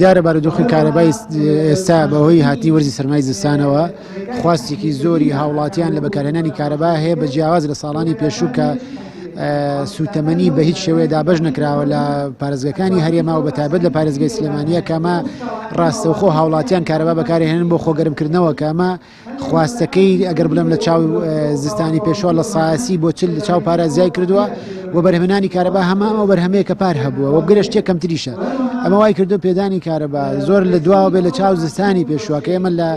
دیارە بارودۆخی کارەبای ئێستا بەهۆی هاتنی وەرزی سەرمای زستانەوە خواستێکی زۆری هاوڵاتیان لە بەکارهێنانی کارەبا هەیە بە جیاواز لە ساڵانی پێشوو کە سوتەمەنی بە هیچ شێوەیە دابش نکراوە لە پارێزگەکانی هەرێما و بەتابەت لە پارێزگەی سلێمانە کەمە ڕاستەوخۆ هاوڵاتیان کارەبا بەکارهێنن بۆ خۆگەرمکردنەوە کەمە خواستەکەی ئەگەر بڵێم لە چاو زستانی پێشوە لە ساسی بۆ چل لە چاو پارازیای کردووە و بەرهمنانی کارەبا هەمە ئەو بەرهەمەیە کە پار هەبووە وە گرشتێک کەمتریشە ئەمە وای کردو پێدانی کارەبا زۆر لە دواوە بێ لە چاو زستانی پێشوە کە ئێمە لە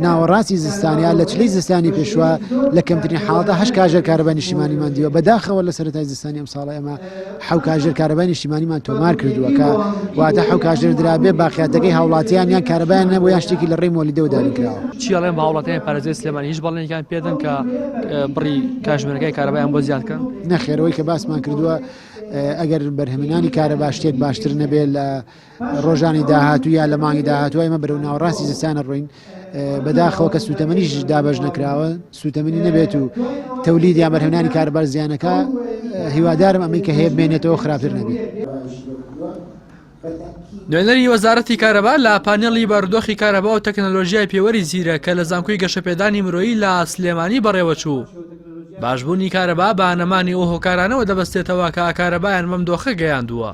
ناوەڕاستی زستانیا لە چلی زستانی پێشوە لە کەمترین حاڵدا هەش کاژێر کارەبا نیشتیمانیمان دیوە بەداخەوە لە سەرای زستانی ئەم ساڵە ئەمە حەو کاژێر کارەبای نیشتیمانیمان تۆمار کردووە کە واتە حەو کاژێر درابێ باقیاتەکەی هاوڵاتیان یان کارەبایان نەبوو یان شتێکی لە ڕێی مۆلیدەوە دانکراوە چیڵێن بە هاوڵاتیان پارێزگای سلێمانی هیچ بەڵێنێکیان پێدەن کە بڕی کاژمێرەکەی کارەبایان بۆ زیاد کەن نەخێرەوەی کە باسمان کردووە ئەگەر بەرهەمێنانی کارەبا شتێک باشتر نەبێت لە ڕۆژانی داهاتوو یا لە مانگی داهاتوای مە بەرەو ناوەڕاستی زستانە ڕوین بەداخەوە کە سووتەمەنیش دابش نەکراوە سووتەمەنی نەبێت و تەولید یا بەرهەنانی کاربار زیانەکە هیوادارم ئەمەی کە هەیە بمێنێتەوە خراپتر نەبی. نوێنەری وەزارەتی کارەبا لە پانێڵی بارودۆخی کارەبا و تەکنەلۆژیای پێوەری زیرە کە لە زانکۆی گەشەپێدانی مرۆیی لە سلێمانی بەڕێوەچوو. باشبوونی کارەبا بە نەمانی ئەو هۆکارانەوە دەبەستێتەوە کە کارەبایان بەم دۆخە گەیاندووە.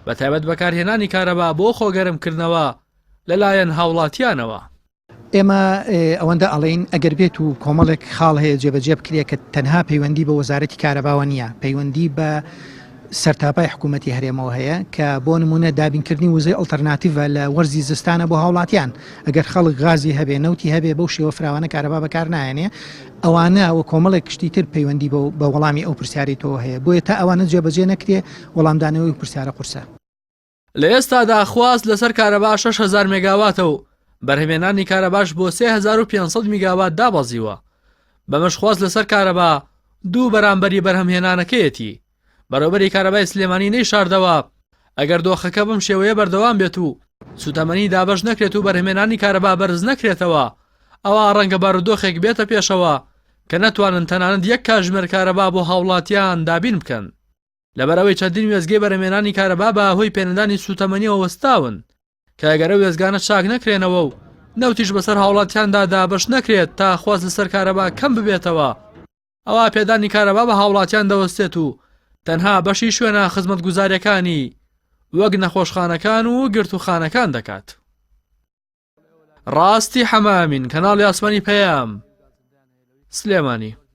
بە تایبەت بەکارهێنانی کارەبا بۆ خۆگەرمکردنەوە لەلایەن هاوڵاتیانەوە. ئێمە ئەوەندە ئەڵێین، ئەگەر بێت و کۆمەڵێک خاڵ هەیە جێبەجێ بکرێت کە تەنها پەیوەندی بە وەزارەتی کارەباوە نییە، پەیوەندی بە سەرتاپای حکوومەتی هەرێمەوە هەیە کە بۆ نمونە دابینکردنی وزەی ئەڵتەرناتیڤە لە وەرزی زستانە بۆ هاوڵاتیان ئەگەر خەڵک غازی هەبێ نەوتی هەبێ بەو شێوە فراوانە کارەبا بەکار نایەنێ ئەوانە و کۆمەڵێک کشتی تر پەیوەندی بە وەڵامی ئەو پرسیاری تۆ هەیە بۆیە تا ئەوانە جێبەجێ نەکرێ وەڵامدانەوەی پرسیارە قورسە. لە ئێستادا خواست لەسەر کارەبا شەش هەزار مێگاواتە و بەرهەمێنانی کارەباش بۆ سێ هەزار و پێنج سەد میگاوات دابەزیوە، بەمەش خواست لەسەر کارەبا دوو بەرامبەری بەرهەمهێنانەکەیەتی. بەڕێوبەری کارەبای سلێمانی نەیشاردەوە، ئەگەر دۆخەکە بەم شێوەیە بەردەوام بێت و سوتەمەنی دابەش نەکرێت و بەرهەمێنانی کارەبا بەرز نەکرێتەوە، ئەوا ڕەنگە بارودۆخێک بێتە پێشەوە کە نەتوانن تەنانەت یەک کاتژمێر کارەبا بۆ هاوڵاتیان دابین بکەن. لەبەر ئەوەی چەندین وێستگەی بەرهەمێنانی کارەبا بە هۆی پێنەدانی سووتەمەنیەوە وەستاون کە ئەگەرە وێزگانە چاک نەکرێنەوە و نەوتیش بەسەر هاوڵاتیاندا دابش نەکرێت تا خواست لەسەر کارەبا کەم ببێتەوە ئەوە پێدانی کارەبا بە هاوڵاتیان دەوەستێت و تەنها بەشی شوێنە خزمەت گوزارەکانی وەک نەخۆشخانەکان و گرتوخانەکان دەکات ڕاستی حەمامین کەناڵی ئاسمانی پەیام سلێمانی